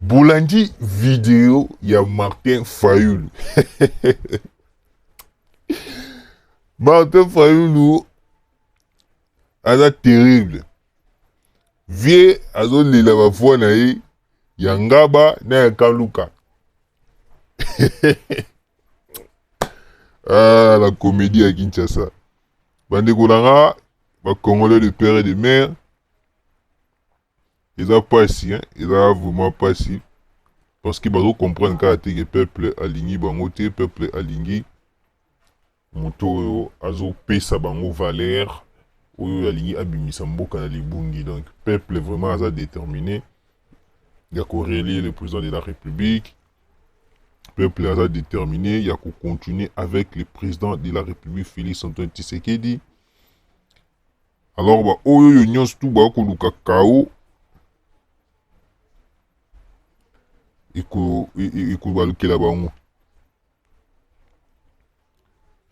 Bolandi video ya Martin Fayulu. Martin Fayulu aza terrible. Vie azolela bavua na ye ya Ngaba na ya Kaluka. ah, la comédie ya Kinshasa. Bandeko na nga, ba Congolais de père et de mère, eza pasi hein eza vraiment pasi parce que bazo comprendre kaka te que peuple alingi bango te peuple alingi moto oyo azopesa bango valeur oyo alingi abimisa mboka na libungi donc peuple vraiment aza déterminé ya korelie le président de la république peuple aza déterminé ya kocontinue avec le président de la république félix antoine tshisekedi Alors ba oyo yo nyonso tu ba koluka chaos eko e, e, ekobalukela bango.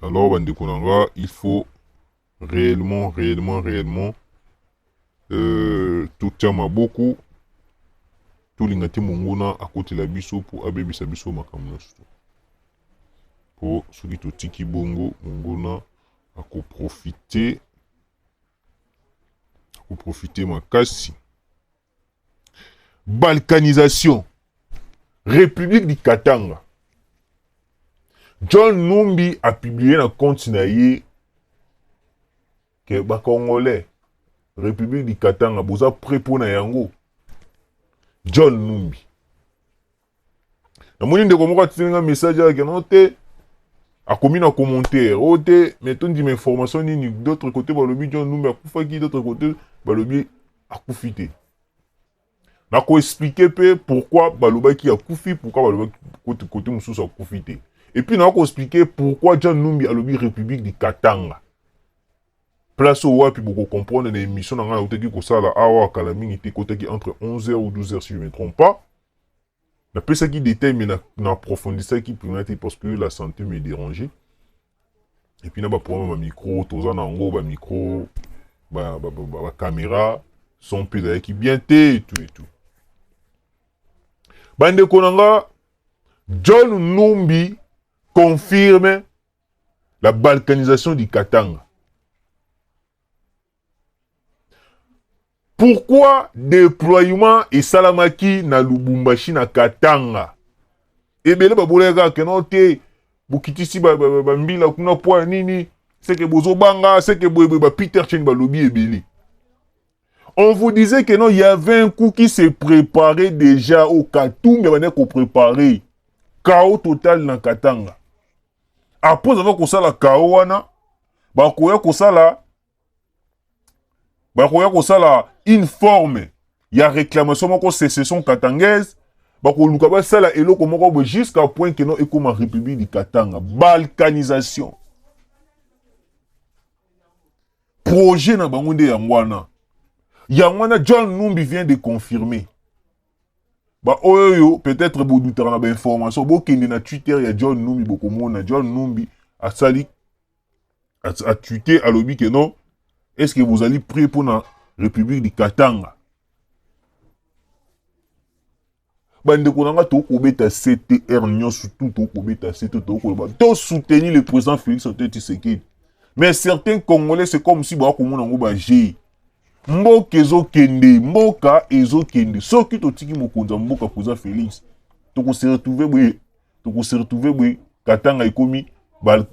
Alors bandeko na nga, il faut réellement réellement réellement euh, totia maboko tolinga te monguna akotela biso mpo abebisa biso makambo nyonso mpo soki totiki bongo monguna ako profite ako profite makasi balkanisation république du katanga john numbi apublie na compte na ye ke bacongolais république du katanga boza près mpo na yango john numbi namoni ndeko moko atindeli nga message ayaki no te akomi na commentaire oyo oh, te mais tondima information nini d'autre côté balobi john numbi akufaki d'autre côté balobi akufi te nakoexplike mpe pourquoi balobaki akufi pourquoi balobaki kote, kote mosusu akufi te epuis nakoexplike pourquoi john numbi alobi république du katanga place oyo wapi bokocomprendre na émission na ngai nautaki kosala awa kala mingi te ekotaki entre 11h ou 12h si je ne me trompe pas napesaki detail mais na, na approfondissaki mpenza te parce que la santé me dérangeait et puis na baproblème ya bamicro toza na yango bamicro bacaméra son mpe ezalaki bien te etu etu bandeko na nga john numbi confirme la balkanisation du katanga Pourquoi déploiement esalamaki na Lubumbashi na Katanga? Ebele babolaki kaka keno te bokitisi bambila kuna mpo ya nini seke bozobanga seke boyeboye ba Peter Chen balobi ebele on vous disait que non, il y avait un coup qui se préparait déjà au Katumbi, on ko préparer chaos total na Katanga. Après avoir ça la chaos wana, ba koya ko sala bakoya kosala une forme ya réclamation moko secession katangaise bakoluka basala eloko moko boye jusqu'à point que non ekoma république du katanga balkanisation projet na bango nde yango wana yango wana john numbi vient de confirmer baoyo oyo peut-être bodutaka na bainformation bokende na twitter ya john numbi bokomona john numbi asali atwite alobi ke non est ce que bozali prêt mpo na république du katanga bandeko na ngai tokoki kobeta ctr nyonso tu tokoki kobeta se to tokoki koloba to soutenir le président félix antoine tshisekedi mais certains congolais c'est comme si baya komona yango bajei mboka ezokende mboka ezokende soki totiki mokonzi ya mboka président félix tokose retrouve boye toko se retrouver boye katanga ekomi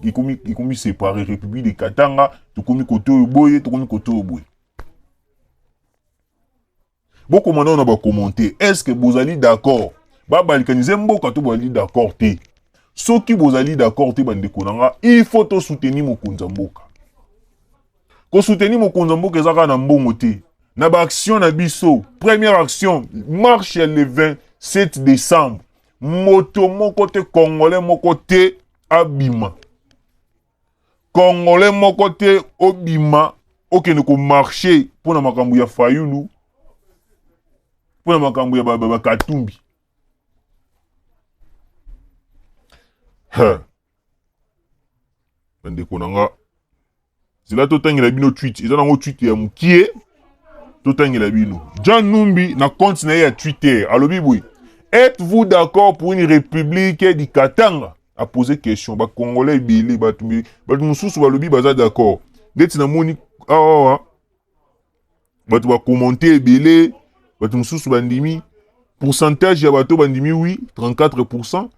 ekomi ekomi séparé république de katanga tokomi kote oyo boye tokomi kote oyo boye bokoma nao na bakommente est ce que bozali d'accord babalikanize mboka to bozali d'accord te soki bozali d'accord te bandeko na nga il faut tosoutenir mokonzi ya mboka kosoutenir mokonzi ya mboka eza kaka na mbongo te na baaction na biso première action marche ya le 27 décembre Moto moko te congolais moko te abima. Congolais moko te obima okende ko marcher mpo na makambo ya Fayulu mpo na makambo ya bakatumbi ba, ba, ba, bandeko na nga zela totangela bino tweet eza nango tweet ya mokie totangela bino jean numbi na compte na ye ya twitter alobi boye êtes-vous d'accord pour une république du katanga apose question bacongolais ebele bato bato mosusu balobi baza d'accord ndeti namoni awawa ah, ah, ah. bato ba commente ebele bato mosusu bandimi pourcentage ya bato bandimi wi 34 pourcent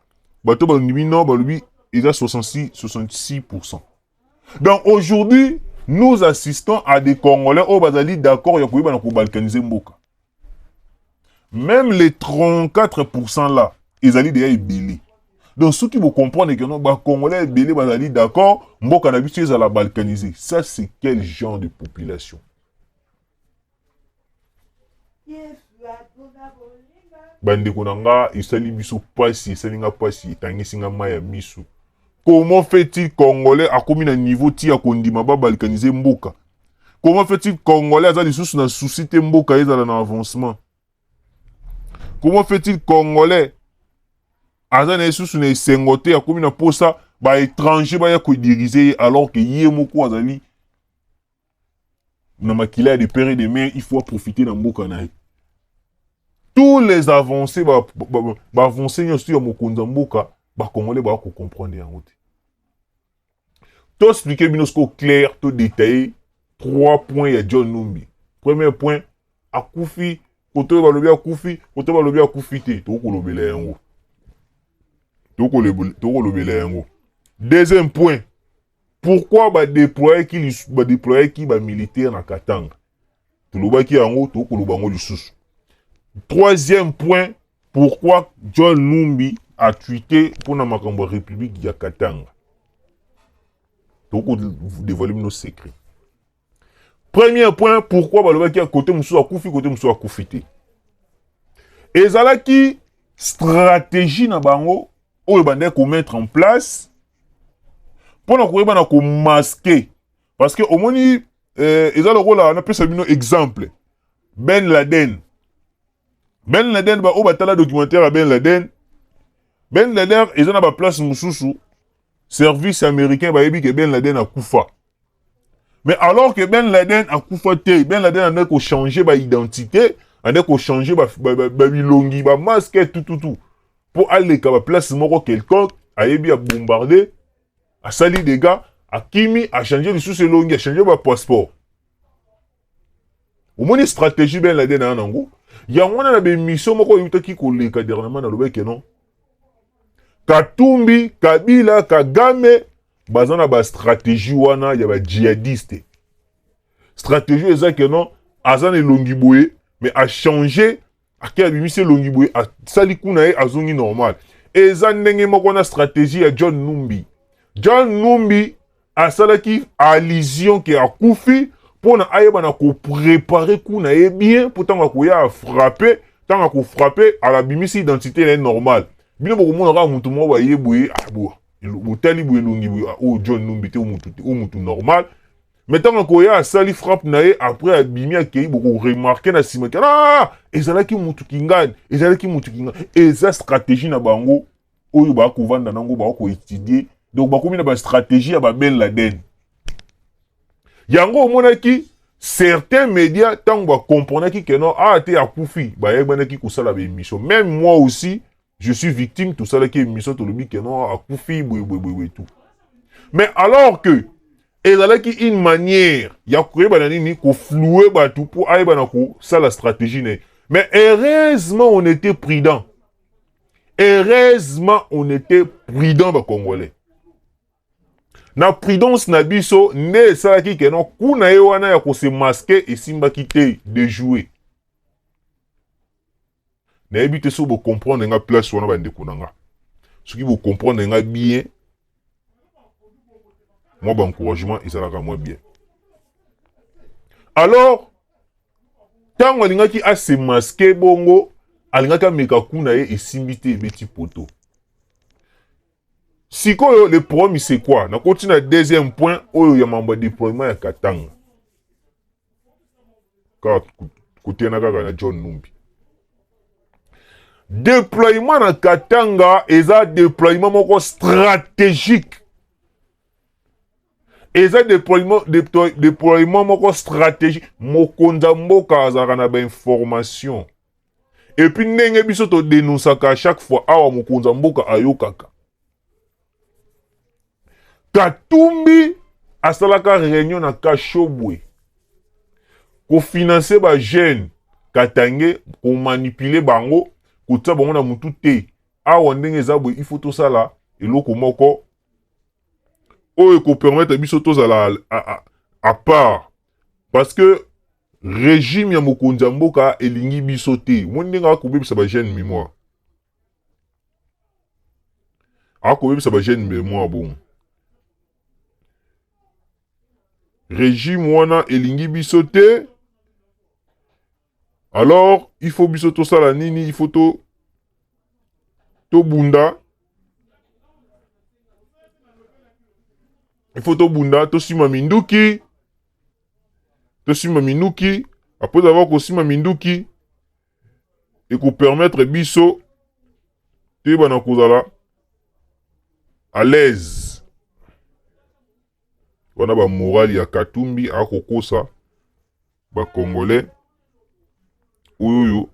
bato bandimi non balobi eza 66 66 pourcent donc aujourd'hui nous assistons à des congolais oyo bazali d'accord ya koyebana kobalkanize mboka meme les 34% là ezali deya ebele donc soki bocomprendre que non bacongolais ebele bazali d'accord mboka na biso ezala balkanise ça c'est quel genre de population bandeko na nga esali biso mpasi esali nga mpasi etangisi nga mai ya misu Comment fait-il congolais akomi na niveau ti ya kondima ba balkaniser mboka? Comment fait-il congolais aza lisusu na souci te mboka ezala na avancement? Comment fait-il congolais aza na ye susu na esengo te akomi na posa ba étranger baya ko diriger ye alors que ye moko azali na makila ya de pere de mer il faut aprofite na mboka na ye tous les avancés baavancé nyonso ya mokonzi ya mboka bakongole baya kocomprendre yango te toexplike bino sikoyo claire todetaille trois points ya john numbi premier point akufi koto oyo balobi akufi koto balobi akufi te tokolobela yango tokolobela yango deuxième point Pourquoi ba deployaki ba deployaki ba militaire na Katanga? Tolobaki yango tokoloba yango lisusu. Troisième point, pourquoi John Numbi a tweeté pour la Makambo République ya Katanga? Toko dévoiler nos secrets. Premier point pourquoi balobaki ya kote mosusu akufi kote mosusu akufi te ezalaki stratégie na bango oyo bandaki komettre en place mpo na koyeba na komaske parce que omoni eh, eza lokola napesa bino exemple ben laden Ben Laden ba oyo batala documentaire ya Ben Laden Ben Laden eza na ba place mosusu service américain bayebi ke Ben Laden akufa mais alors que Ben Laden akufa te Ben Laden andaki kochanger ba identité andaki kochanger babilongi ba, ba, ba, ba masque tututu mpo aleka ba place moko quelconque ayebi abombarde asali dega akimi achange lisusu elongi achange ba passeport omoni stratégie ben laden na ya nango yango wana na bemission moko eutaki koleka dernièrement nalobaki ke non katumbi kabila kagame baza na bastratégie wana ya bajihadiste stratégie eza ke non aza na elongi boye mais achange ake abimisi elongi boye asali kuna ye azongi normal eza ndenge moko na stratégie ya john numbi john numbi asalaki allusion ke akufi mpo na ayeba na koprepare ku na ye bien mpo ntango akoya afrape ntango akofrape alabimisi identité na ye normal bino bokomona kaka motu moko baye boye ah, botali boye elongi boye ah, oyo oh, john numbi te oyo motu normal mais ntango akoya asali frappe na ye après abimi akei bokoremarke na nsima ke ah, ezalaki motu kingani ezalaki motu kingani eza stratégie na bango oyo bakovanda nango bakoetudie donc bakomi na bastratégie ya babel laden yango omonaki certains médias ntango bacomprenaki ke non ah te akufi bayebanaki kosala baémission même moi aussi je suis victime tosalaki émission tolobi ke non akufi boyeboyeboye tout mais alors que ezalaki une manière ya koyeba na nini kofloue bato mpo ayeba na kosala stratégie na ye mais heureusement on était prudent heureusement on était prudent bacongolais na prudence na biso nde esalaki ke non kuna ye wana ya kose maske esimbaki te de jouer nayebi te soki bocomprendre nga place wana bandeko na nga soki bocomprendre nga bien mwa baencouragement ezalaka mwa bien alors ntango alingaki asemaske bongo alingaki ameka kuna ye esimbi te ebeti poto Sikoyo le problème c'est quoi? Nakoti na deuxième point oyo ya mambo ya deploiement ya Katanga. Kaka kotena kaka na John Numbi. Deploiement na Katanga eza deploiement moko stratégique. eza deploiement, deploiement moko stratégique mokonzi ya mboka azalaka na bainformation Et puis ndenge biso to denonsaka à chaque fois awa mokonza mboka ayokaka. Katumbi asalaka réunion na Kashobwe ko financer ba jeunes Katangais ko manipuler bango kotia bango na mutu te. Awa ndenge eza boye il faut tosala eloko moko oyo ko permettre biso tozala à, à, à part parce que Regime ya mokonzi ya mboka elingi biso te. Omoni ndenge akobebisa ba jeune memoire. Akobebisa ba jeune memoire bongo. Regime wana elingi biso te. Alors, il faut biso tosala nini? Il faut to tobunda il faut tobunda tosima minduki tosimba minduki apres avoir kosimba minduki ekopermettre biso toyebana kozala à l'aise wana bamorale ya katumbi akokosa bacongolais oyo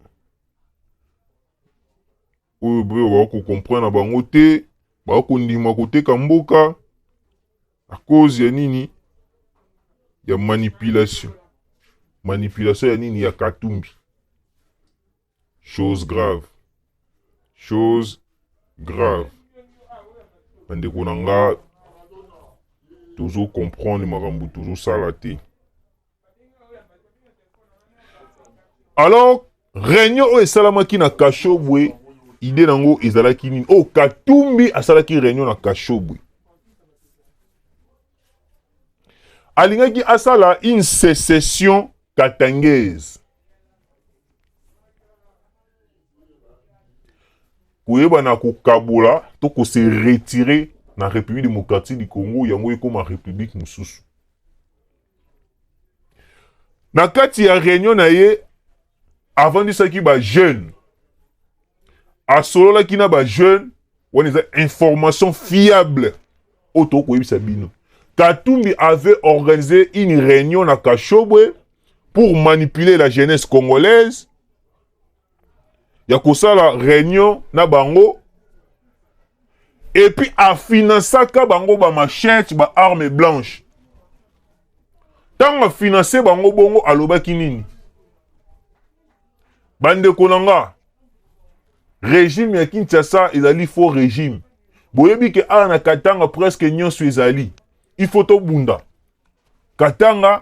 oyo bakokomprendre na bango te bakondima koteka mboka A cause ya nini? Ya manipulation. Manipulation ya nini? Ya Katumbi. Chose grave. Chose grave. Bandeko na nga tozo comprendre makambo tozo sala te. alors réunion oyo esalamaki na kashobwe ide na yango ezalaki nini oyo oh, katumbi asalaki réunion na kashobwe alingaki asala une sécession katangaise koyebana kokabola to kose retire na république démocratique du congo yango ekoma république mosusu na kati ya reunion na ye avandisaki bajeune asololaki na bajeune wana eza information fiable oyo tokoki koyebisa bino katumbi avait organisé une réunion na kashobwe pour manipuler la jeunesse congolaise ya kosala reunion na bango epuis afinansaka bango bamachete ba arme blanche ntango afinanse bango bongo alobaki nini bandeko na nga regime ya kinshasa ezali faux regime boyebi ke awa na katanga presque nyonso ezali il faut tobunda katanga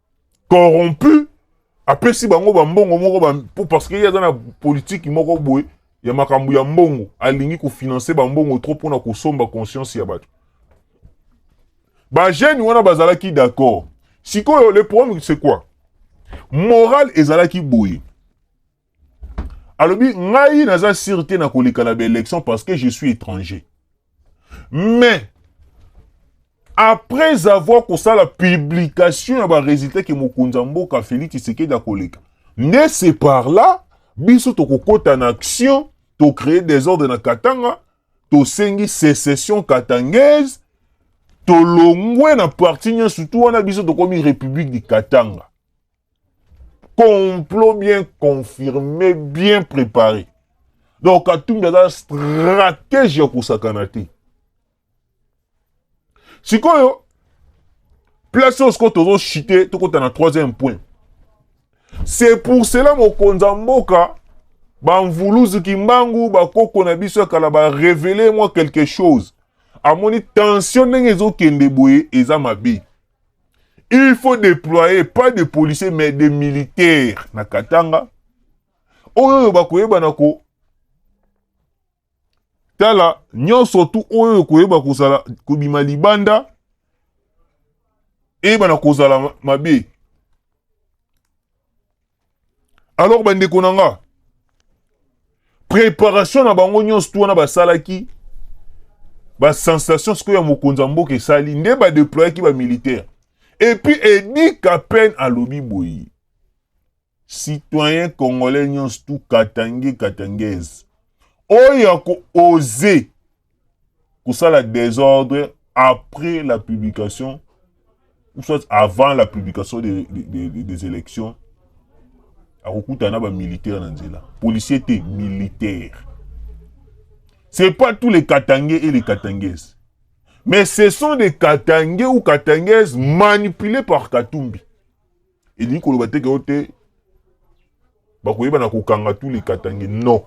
corrompu apesi bango bambongo moko ba, parce que ye aza na politiki moko boye ya makambo ya mbongo alingi kofinanse bambongo trop mpona kosomba conscience ya bato bajeune wana bazalaki d'accord sikoyo le problème c'est quoi moral ezalaki boye alobi ngai naza sire te na koleka na baélection parce que je suis étranger mais après avoir kosala publication ya baresultat ke mokonzi ya mboka félix tshisekedi akoleka nde se par là biso tokokota na action tocree desordre na katanga tosengi sécession katangaise tolongwe na parti nyonso tu wana biso tokomi république du katanga complot bien confirmé bien préparé donc katumbi aza stratège ya kosakana te sikoyo place oyo sikoyo tozochite tokota na troisième point c'est pour cela mokonzi ya mboka bamvuluzi kimbangu bakoko na biso ya kala barevele mwa quelque chose amoni tension ndenge ezokende boye eza mabe Il faut déployer pas de policiers mais des militaires na Katanga. Oyo bakoyeba na ko tala nyonso tu oyo koyeba kozala kobima libanda eyeba na kozala mabe alors bandeko na nga préparation na bango nyonso tu wana basalaki basensation sikoyo ya mokonzi ya mboka esali nde badeployaki bamilitaire epuis edi kapen alobi boye citoyen congolais nyonso tu katange katangaise oyo ya kooze kosala desordre après la publication ou soit avant la publication des, des, des, des élections akokutana na bamilitaire na nzela policier te militaire c'est pas tous les katangais et les katangaises mais ce sont des katangais ou katangaises manipulés par katumbi elingi koloba te ke yo te bakoyeba na kokanga tous les katangais non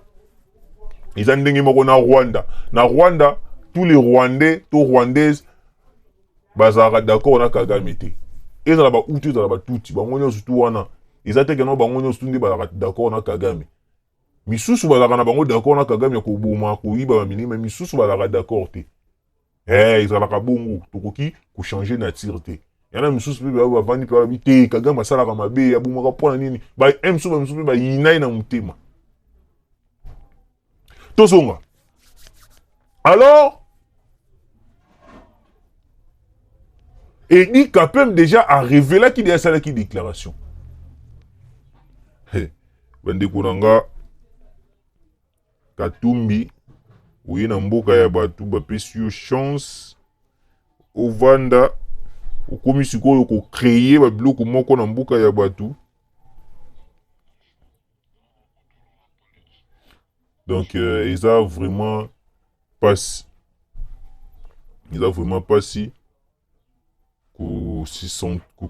eza ndenge moko na rwanda na rwanda tous les rwandais to rwandaise bazalaka d'accord na kagame te ezala bauti ezala batuti bango nyonso tu wana eza te keno bango nyonso tu nde bazalaka d'accord na kagame misusu bazalaka na bango d'accord na kagame ya koboma koyiba bamilima misusu bazalaka d'accord te eh ezalaka bongo tokoki kochange nature te yana misusu mpe bayo bavandi mpe balobi te kagame asalaka mabe abomaka mpo na nini bamisusu bamisusu mpe bayinai na motema tozonga alors edi kapem déjà arevelaki de asalaki déclaration bandeko na nga Katumbi oye na mboka ya bato bapesi yo chance ovanda okomi sikoyo kocreye babiloko moko na mboka ya bato donc euh, eza vraiment pasi eza vraiment pasi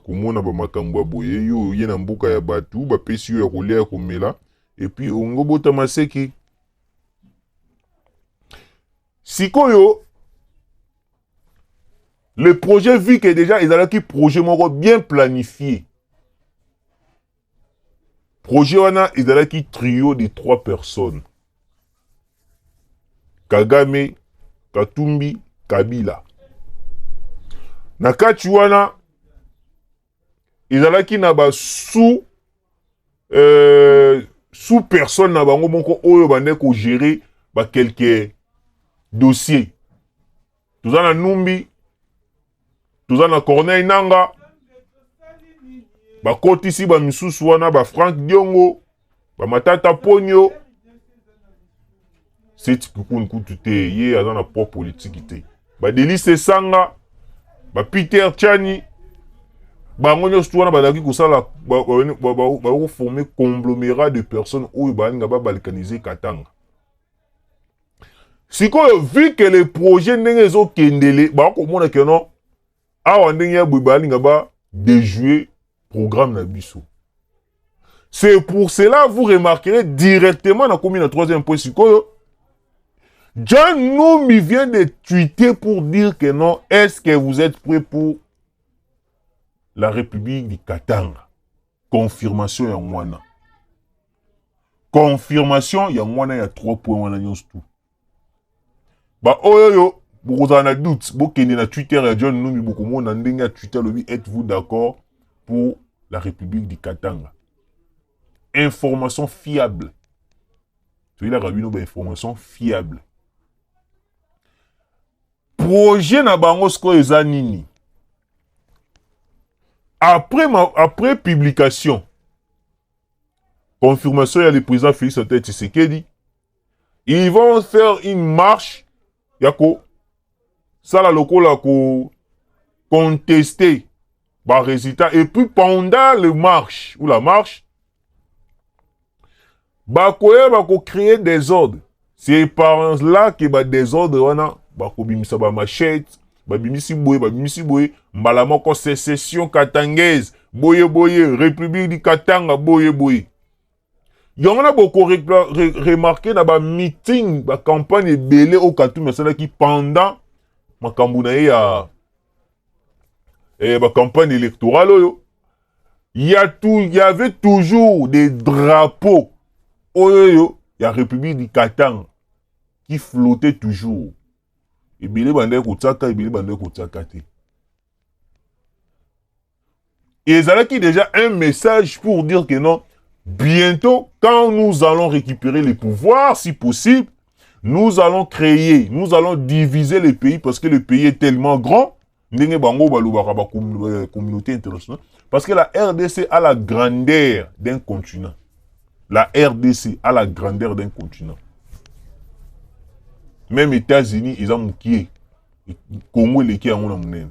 komona ba makambo ya boye yo oye na mboka ya batu bapesi yo ya kolia ya komela epuis olingi obota maseki sikoyo le projet vike deja ezalaki projet moko bien planifie Projet wana ezalaki trio de trois personnes. Kagame, Katumbi, Kabila. Na kati wana ezalaki na ba sous euh, sous personne na bango moko oyo bande ko gérer ba quelques dossiers. Toza na Numbi, toza na corneille nanga bakotisi bamisusu wana ba frank diongo bamatata ponio seti kikuni kutu te ye aza na poids politiki te badelise esanga bapeter chani bango nyonso wana bazalaki kosala bakoforme conglomerat de personnes oyo balinga babalkanize katanga sikoyo vu que le projet ndenge ezokendele bakomona ke non awa ndenge ya boye balinga ba déjouer programme na biso c'est pour cela vous remarquerez directement nakomi na troisième point sikoyo John Noumi vient de tweeter pour dire que non, est-ce que vous êtes prêt pour la République du Katanga Confirmation ya ngwana. Confirmation ya ngwana ya 3 points wana nyonso tout. Ba oyo yo bokozala na doute bokende na Twitter ya John Numbi bokomona ndenge ya Twitter lobi êtes-vous d'accord pour la République du Katanga. Information fiable. Toyelaka bino ba information fiable. projet na bango sikoyo eza nini après, ma, après publication confirmation ya le président félix antoine tshisekedi ils vont faire une marche ya kosala lokola ko contester baresultat et puis pendant le marche ou la marche bakoya bako cree desordre c'est par là ke ba desordre wana bakobimisa ba machete babimisi boye babimisi boye mbala moko secession katangaise boye boye république du katanga boye boye yango wana bokoremarke re, re, na bameeting bacampagne ebele oyo katumi asalaki pendant makambo na ye ya eh, ba campagne électorale oyo ya tout y avait toujours des drapeaux oyo ya république du katanga qui flottait toujours ebele bandaki kotiaka ebele bandaki kotiaka te ezalaki déjà un message pour dire que non bientôt quand nous allons récupérer les pouvoirs si possible nous allons créer nous allons diviser le pays parce que le pays est tellement grand ndenge bango balobaka ba euh, communauté internationale parce que la rdc a la grandeur d'un continent la rdc a la grandeur d'un continent même états-unis eza mokie congo eleki yango na monene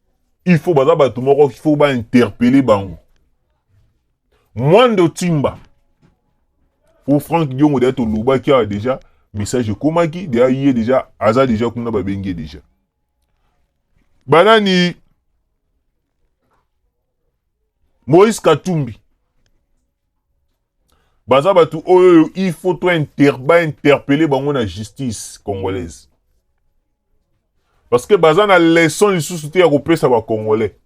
il faut baza bato moko il faut bainterpele bango mwando timba po frank diongo deja tolobaki awa deja message ekomaki deja ye deja aza deja kuna babengi ye deja banani moïse katumbi baza batu oyo oyo il faut to inter, ba interpelle bango na justice congolaise parce que baza na leçon lisusu te ya kopesa ba congolais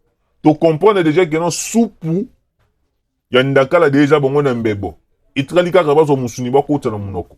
to comprendre déjà que non supu ya ndakala deja bango na mbebo etikali kaka bazwa mosuni bakota na monoko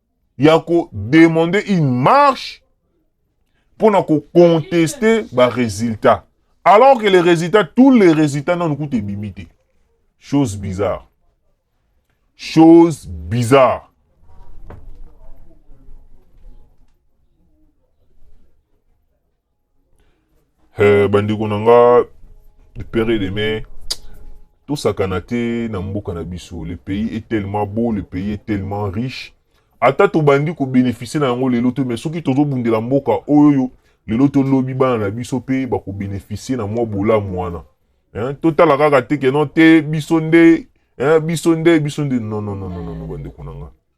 ya ko demander une marche mpo na ko contester ba résultats alors que les résultats tous les résultats nanu kutu ebimi te chose bizarre chose bizarre Eh, bandeko na nga de père et de mère tosakana te na mboka na biso le pays est tellement beau le pays est tellement riche ata tobandi kobénéficie na yango lelo te mais soki tozobundela mboka oyo lelo to lobi bana na biso mpe bakobénéficie na mwa bolamu wana hein? totala kaka te keno te biso nde hein? biso nde biso nde non non non non non bandeko na nga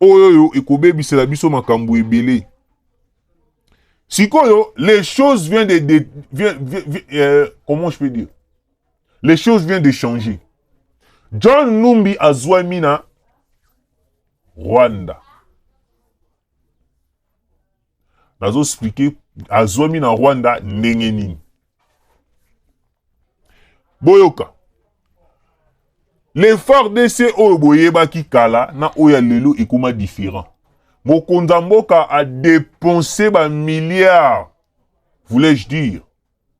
oyo oyo ekobebisela biso makambo ebele sikoyo les choses vient de, de vient, vient, vient, euh, comment je peux dire les choses vient de changer john numbi azwami na rwanda nazo explike azwami na rwanda ndenge nini boyoka le fardc oyo boyebaki kala na oyo ya lelo ekoma différent mokonzi ya mboka adepense bamilliard voulais-je dire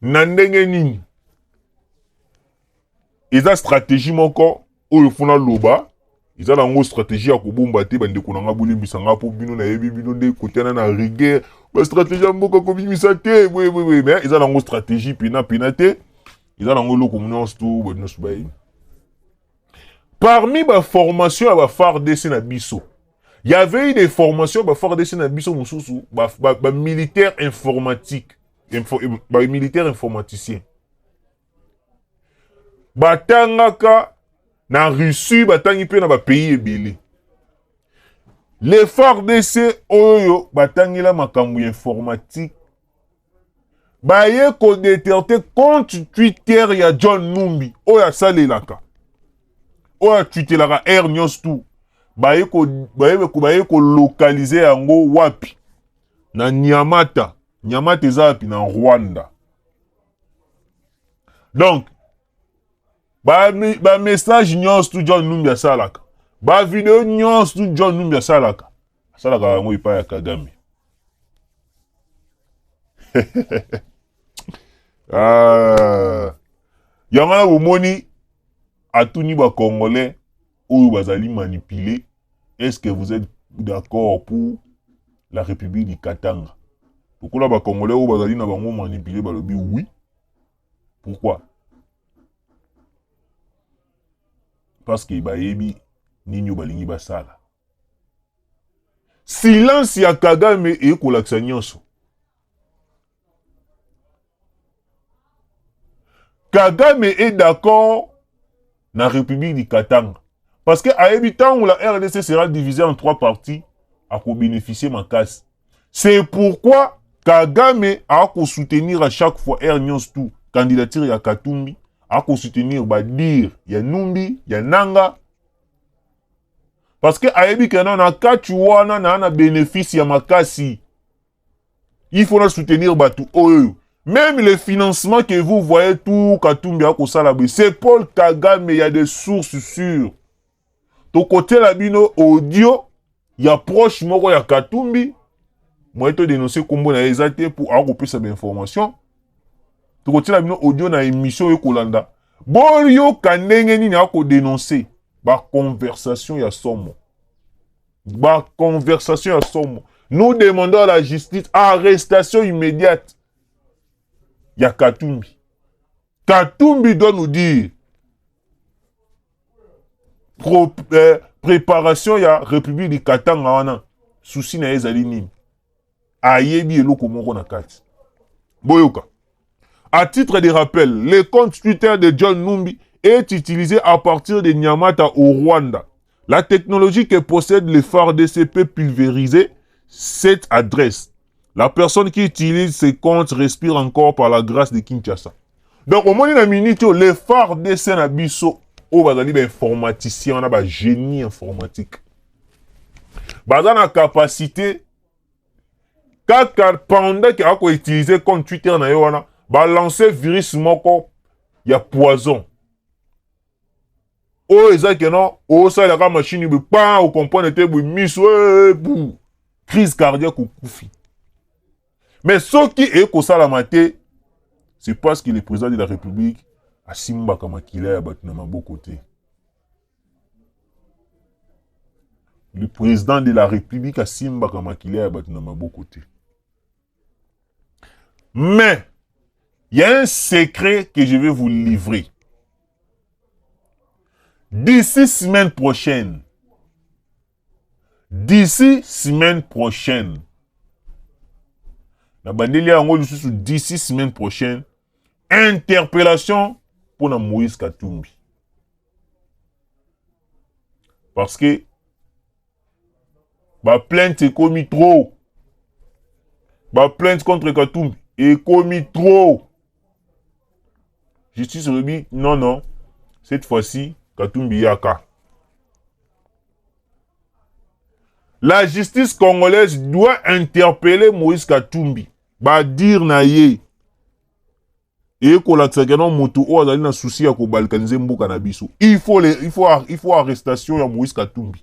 na ndenge nini eza stratégie moko oyo funa loba eza na yango stratégie ya kobomba te bandeko na ngai bolimbisa ngai mpo bino nayebi bino nde kotiana na rigueur bastratégie ya mboka kobimisa te boyeboye mais eza na yango stratégie pena pena te eza na yango eloko nyonso to bato nyonso bayebi parmi baformation ya bafardc na biso y avait eu des formations bafardc na biso mosusu bamilitaire ba, ba informatique Info, ba militaire informaticien batangaka na Russie, batangi mpe na bapays ebele. Le FARDC oyo batangela makambo ya informatique baye kodeterte compte Twitter ya John Numbi oyo asalelaka oyo atwitelaka air nyonso tu baye kolokalize yango wapi na Nyamata Nyamata eza wapi na Rwanda? Donc ba ba message nyonso tu John Numbi asalaka, ba video nyonso tu John Numbi asalaka, asalaka yango epai ya Kagame. ah. yango wana bomoni atuni bakongolais oyo bazali manipuler est ce que vous êtes d'accord pour la république du katanga lokola bacongolais oyo bazali na bango manipuler balobi oui pourquoi parce que bayebi nini oyo balingi basala silence ya kagame ekolakisa nyonso Kagame est d'accord na République du Katanga. Parce que ayebi tango la RDC sera divisée en trois parties, à ko bénéficier ma casse. C'est pourquoi Kagame a ko soutenir à chaque fois Air News tout candidature ya Katumbi, a ko soutenir ba dire ya Numbi, ya Nanga. Parce que ayebi que na na catch wana na na bénéfice ya makasi. il faut na soutenir batu oyo Même les financements que vous voyez tout Katumbi akosala boye, c'est Paul Kagame, il y a des sources sûres. tokotela bino audio ya proche moko ya Katumbi moye todénonce nkombo na ye eza te mpo akopesa bainformation tokotela bino audio na émission oyo ekolanda boyoka ndenge nini akodénonce baconversation ya somo Ba conversation ya somo. Nous demandons à la justice arrestation immédiate ya Katumbi. Katumbi doit nous dire pro, eh, préparation ya République du Katanga wana souci na ye ezali nini? ayebi eloko moko na kati boyoka à titre de rappel le compte twitter de john numbi est utilisé à partir de nyamata au rwanda la technologie que possède le fardc peut pulvériser cette adresse la personne qui utilise ce compte respire encore par la grâce de kinshasa donc omoni na minute oyo le fardc na biso oyo bazali bainformaticien wana bagénie informatique baza na capacité kaka pendant ke ako utiliser compte Twitter na ye wana ba lancer virus moko ya poison oyo eza ke non osalaka kaka machine boye pa okomprendre te boye miso eh, eh, bu crise cardiaque okufi mais soki eye kosalama te c'est parce que le président de la république asimbaka makila ya bato na maboko te le president de la republique asimbaka makila ya bato na maboko te mais il y a un secret que je vais vous livrer d'ici semaine prochaine d'ici semaine prochaine na bandeli yango lisusu d'ici semaine prochaine interpellation mpo na moïse katumbi parce que baplainte ekomi trop baplainte contre katumbi ekomi trop justice olobi non non cette fois-ci katumbi yaka la justice congolaise doit interpeller moïse katumbi badire na ye eye kolakisa keno moto oyo azali na susi ya kobalkanize mboka na biso il faut, le, il faut, il faut arrestation ya moïse katumbi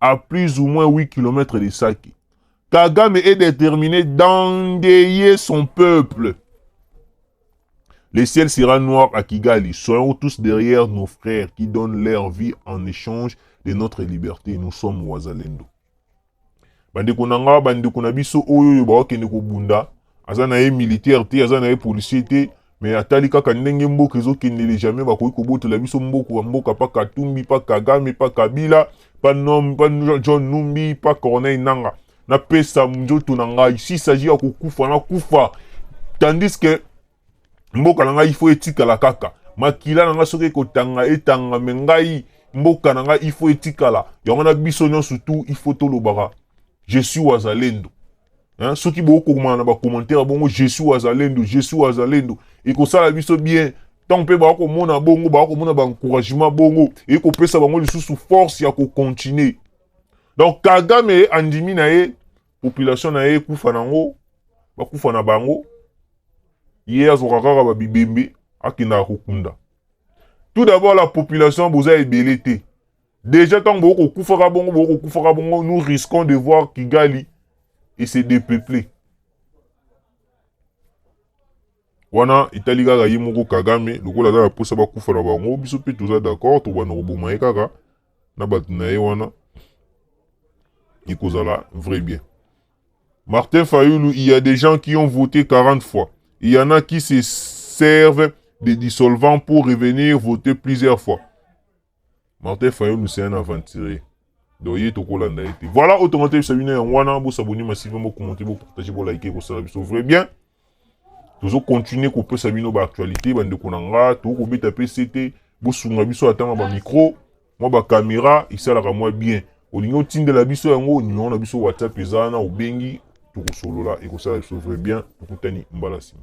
à plus ou moins 8 km de Saki. Kagame est déterminé d'endayer son peuple. Le ciel sera noir à Kigali. Soyons tous derrière nos frères qui donnent leur vie en échange de notre liberté. Nous sommes Wazalendo. Bande konanga, bande konabiso, oyo yo ba wakende ko bunda. aza na ye militaire te aza na ye policier te mais atali kaka ndenge mboka ezokendele jamais bakoki kobotela biso mboka mboka pa katumbi pa kagame pa kabila pa nom pa john numbi pa corneille nanga napesa nzoto na ngai si saji ya kokufa nakufa tandis que mboka na ngai ifo etikala kaka makila na ngai soki ekotanga etanga me ngai mboka na ngai ifo etikala yango na biso nyonso tu ifo tolobaka je suis wazalendo Hein, soki bokomana na bacommentaire bongo je suis wazalendo je suis wazalendo ekosala biso bien ntango mpe bakomona bongo bakomona baencouragement bongo ekopesa bango lisusu force ya kocontinue donc kagame andimi na ye population na ye ekufa nango bakufa na bango ye azwaka kaka babibembe akendaka kokunda tout d'abord la population boza ebele te Deja tango boko kufaka bongo boko kufaka bongo nous risquons de voir Kigali et se dépeupler. wana etali kaka ye moko kagame lokola aza na mposa bakufa na bango biso mpe toza d'accord tobanda koboma ye kaka na bato na ye wana ekozala vrai bien martin fayulu il y a des gens qui ont voté 40 fois il y en a qui se servent des dissolvants pour revenir voter plusieurs fois Martin Fayulu c'est un aventurier. Donc ye tokolanda ye te. Voilà oyo tongo teyebisa bino yango wana bosaboni masive bokomonte bopartage bolike kosala biso vrai bien tozo continuer kopesa bino baactualité bandeko na nga tokoki kobeta mpe se te bosunga biso atanga bamicro mwa bakamera esalaka mwa bien olingi otindela biso yango nimero na biso whatsapp eza wana obengi tokosolola ekosala biso vrai bien tokutani mbala nsima